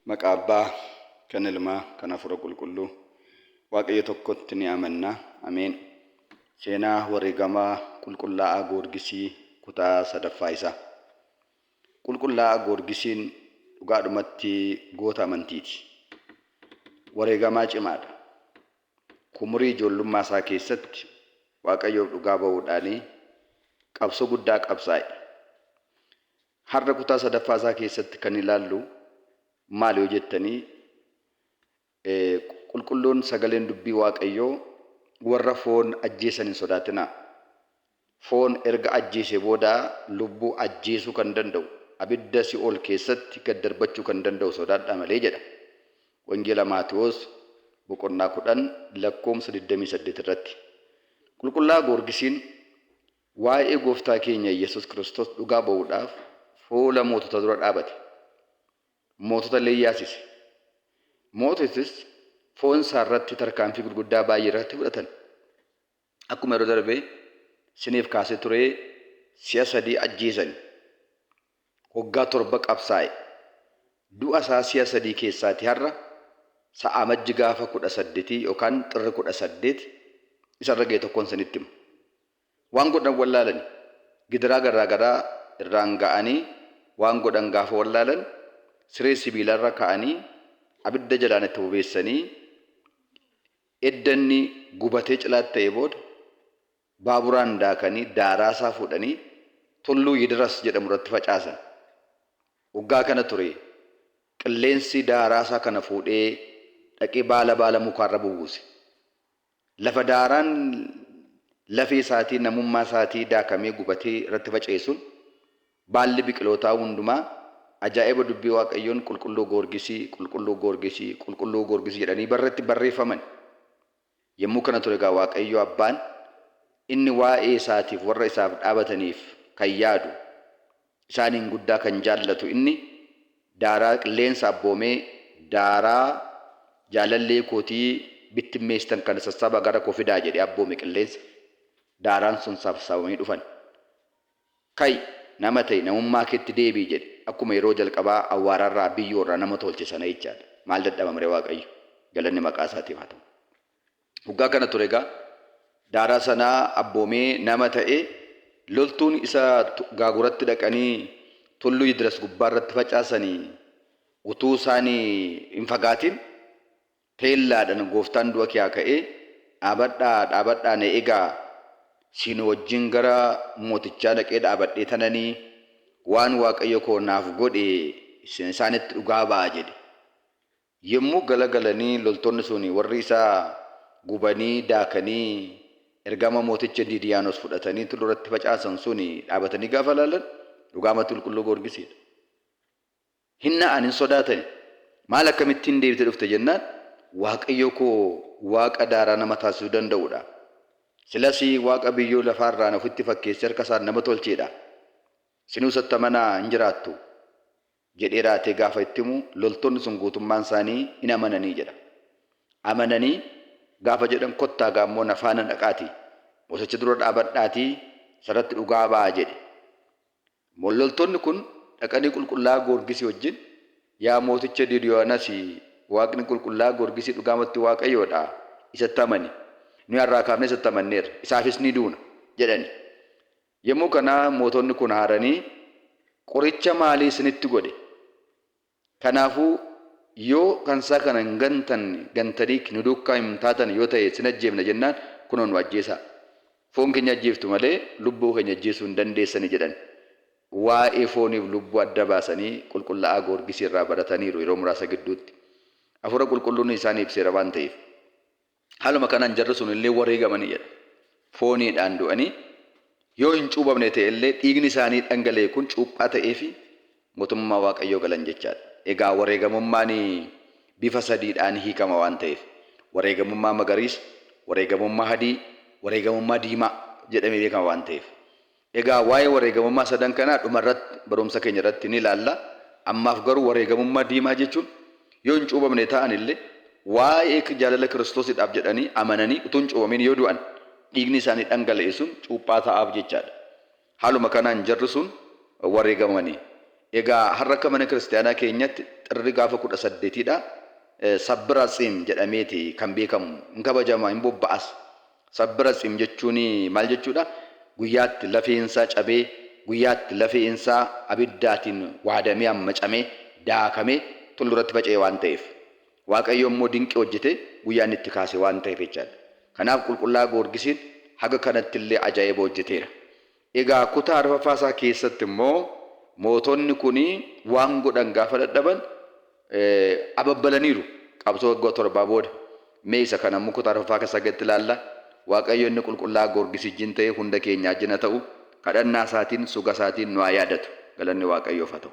Maqaa Abbaa, kan Ilmaa, kan Hafuura Qulqulluu, Waaqayyo tokkotti ni amanna. Ameen. Seenaa Wareegama Qulqullaa'aa Goorgisii Kutaa 3ffaa isaa. Qulqullaa'aa Goorgisiin dhugaadhumatti goota amantiiti. Wareegamaa cimaadha. Kumurii ijoollummaa isaa keessatti Waaqayyoof dhugaa ba'uudhaanii qabsoo guddaa qabsaa'e. Har'a kutaa sadaffaa isaa keessatti kan ilaallu maal yoo jettanii qulqulluun sagaleen dubbii waaqayyoo warra foon ajjeesan hin sodaatinaa. Foon erga ajjeese booda lubbuu ajjeesuu kan danda'u abidda si'ool keessatti gad darbachuu kan danda'u sodaadhaa malee jedha. Wangeela Maatiwoos boqonnaa 10 lakkoomsa 28 irratti. Qulqullaa Goorgisiin Waa'ee Gooftaa keenya Yesus Kristos dhugaa ba'uudhaaf fuula mootota dura dhaabate. Mootota illee yaasise. Moototis foon isaa irratti tarkaanfii gurguddaa baay'ee irratti fudhatan. Akkuma yeroo darbe siniif kaasee turee si'a sadii ajjeesani. hoggaa torba qabsaa'e. Du'a isaa si'a sadii keessaati har'a sa Amajji gaafa 18 yookaan Xirri 18 isa irra ga'e tokkon isinitti hima. Waan godhan wallaalani. Gidiraa garraa garaa irraan ga'anii waan godhan gaafa wallaalan siree sibiilaa irra kaa'anii abidda jalaan itti bobeessanii edda inni gubatee cilaat ta'ee booda Baaburaan daakanii daaraa isaa fuudhanii tulluu Yidiras jedhamu irratti facaasan. Waggaa kana ture qilleensi daaraa isaa kana fuudhee dhaqee baala baala mukaa irra bubuuse. Lafa daaraan lafee isaatii, namummaa isaatii daakamee gubatee irratti faca'e sun baalli biqilootaa hundumaa ajaa'iba dubbii Waaqayyoon Qulqulluu Goorgisii, Qulqulluu Goorgisii, Qulqulluu Goorgisii jedhanii barratti barreeffaman. Yommuu kana ture egaa Waaqayyo Abbaan, inni waa'ee isaatiif warra isaaf dhaabataniif kan yaadu, isaaniin guddaa kan jaallatu inni, daaraa qilleensa abboomee, daaraa jaalallee kootii bittimmeessitan kana sassaabaa gara koo fidaa jedhee abboome qilleensa, daaraan sun sassaabamanii dhufan. Ka'i! Nama ta'i! Namummaa keetti deebi'i! jedhe. Akkuma yeroo jalqabaa awwaara irraa, biyyoo irraa nama tolche sana jechaa dha. Maal dadhabama ree Waaqayyo! Galanni maqaa isaatiif haa ta'u! Hoggaa kana ture egaa daaraa sanaa abboomee nama ta'e, loltuun isa gaaguratti dhaqanii tulluu Yidras gubbaa irratti facaasanii utuu isaan hin fagaatin, Teellaadhan gooftaan du'a kiyaa ka'ee dhaabadhaa dhaabadhaa na egaa siin wajjin gara mootichaa dhaqee dhaabadhee tananii waan waaqayyo koo naaf godhe isaanitti dhugaa ba'a jedhe yommuu gala galanii loltoonni sun warri isa gubanii daakanii ergama mooticha diidiyaanos fudhatanii tullu irratti facaasan sun dhaabatanii gaafa laalan dhugaamatti qulqulluu goorgisiidha. Hin na'an, hin sodaatani. Maal akkamittiin deebitee dhufte jennaan, Waaqayyo koo Waaqa daaraa nama taasisuu danda'u dha. Silas Waaqa biyyoo lafaa irraa ana ofitti fakkeessee harka isaan nama tolchee dha. Isinuu isatti amanaa hin jiraattu. jedhee raatee gaafa itti himu loltoonni sun guutummaan isaanii in amananii jedha. Amananii gaafa jedhan kottaa gaa immoo na faana dhaqaatii mooticha dura dhaabadhaatii isarratti dhugaa ba'aa jedhe. Loltoonni kun dhaqanii qulqullaa'aa Goorgisii wajjin, Yaa mooticha Didiyoonasi, Waaqni qulqullaa'aa Goorgisii dhugaamatti Waaqayyoo dha, isatti amani. Nuyi har'aa kaafnee isatti amanneerra, isaafis ni duuna! jedhani. Yommuu kana mootonni kun aaranii, Qoricha maalii isinitti godhe? Kanaafuu yoo kan isaa kana hin gantanne gantaniik nu duukkaa hin taatan yoo ta'e sin ajjeefna jennaan kunoo nu ajjeesaa. Foon keenya ajjeeftu malee lubbuu keenya ajjeesuu hin dandeessani jedhan. Waa'ee fooniif lubbuu adda baasanii qulqulla'aa Goorgisii irraa barataniiru yeroo muraasa gidduutti. Afuura qulqulluun isaan ibseera waan ta'eef. Haaluma kanaan jarri sun illee wareegamanii jedha. Fooniidhaan du'anii yoo hin cuubamne ta'e illee dhiigni isaanii dhangala'e kun cuuphaa ta'eefii mootummaa Waaqayyoo galan jechaa dha. Egaa wareegamummaan bifa sadiidhaan hiikama waan ta'eef wareegamummaa magariisa, wareegamummaa hadii, wareegamummaa diimaa jedhamee beekama waan ta'eef Egaa waa'ee wareegamummaa sadan kanaa dhuma irratti barumsa keenya irratti ni ilaalla. Ammaaf garuu wareegamummaa diimaa jechuun yoo hin cuubamne ta'an illee waa'ee jaalala Kiristoosidhaaf jedhanii amananii utuu hin cuubamiin yoo du'an dhiigni isaanii dhangala'e sun cuuphaa ta'aaf jechaadha. Haaluma kanaan jarri sun wareegamani. Egaa har'a akka mana kiristiyaanaa keenyatti xirri gaafa 18 dha. Sabbira Tsiim jedhameeti kan beekamu. Hin kabajama, hin bobba'as. Sabbiratsim jechuun maal jechuudha? Guyyaatti lafeen isaa cabee, guyyaatti lafeen isaa abiddaatiin waadamee ammacamee, daakamee tulluu irratti faca'e waan ta'eef. Waaqayyo immoo dinqii hojjetee guyyaa inni itti kaase waan ta'eef jechaadha. Kanaaf Qulqullaa Goorgisiin haga kanatti illee ajaa'iba hojjeteera. Egaa kutaa arfaffaa isaa keessatti immoo mootonni kun waan godhan gaafa dadhaban ababbalaniiru qabsoo waggaa torbaa booda. Mee isa kana immoo kutaa arfaffaa keessaa gaditti ilaalla. Waaqayyo inni qulqullaa'aa Goorgis ijjin ta'ee hunda keenyaa ijjin haa ta'u, kadhannaa isaatiin, suga isaatiin nu haa yaadatu. Galanni Waaqayyoof haa ta'u.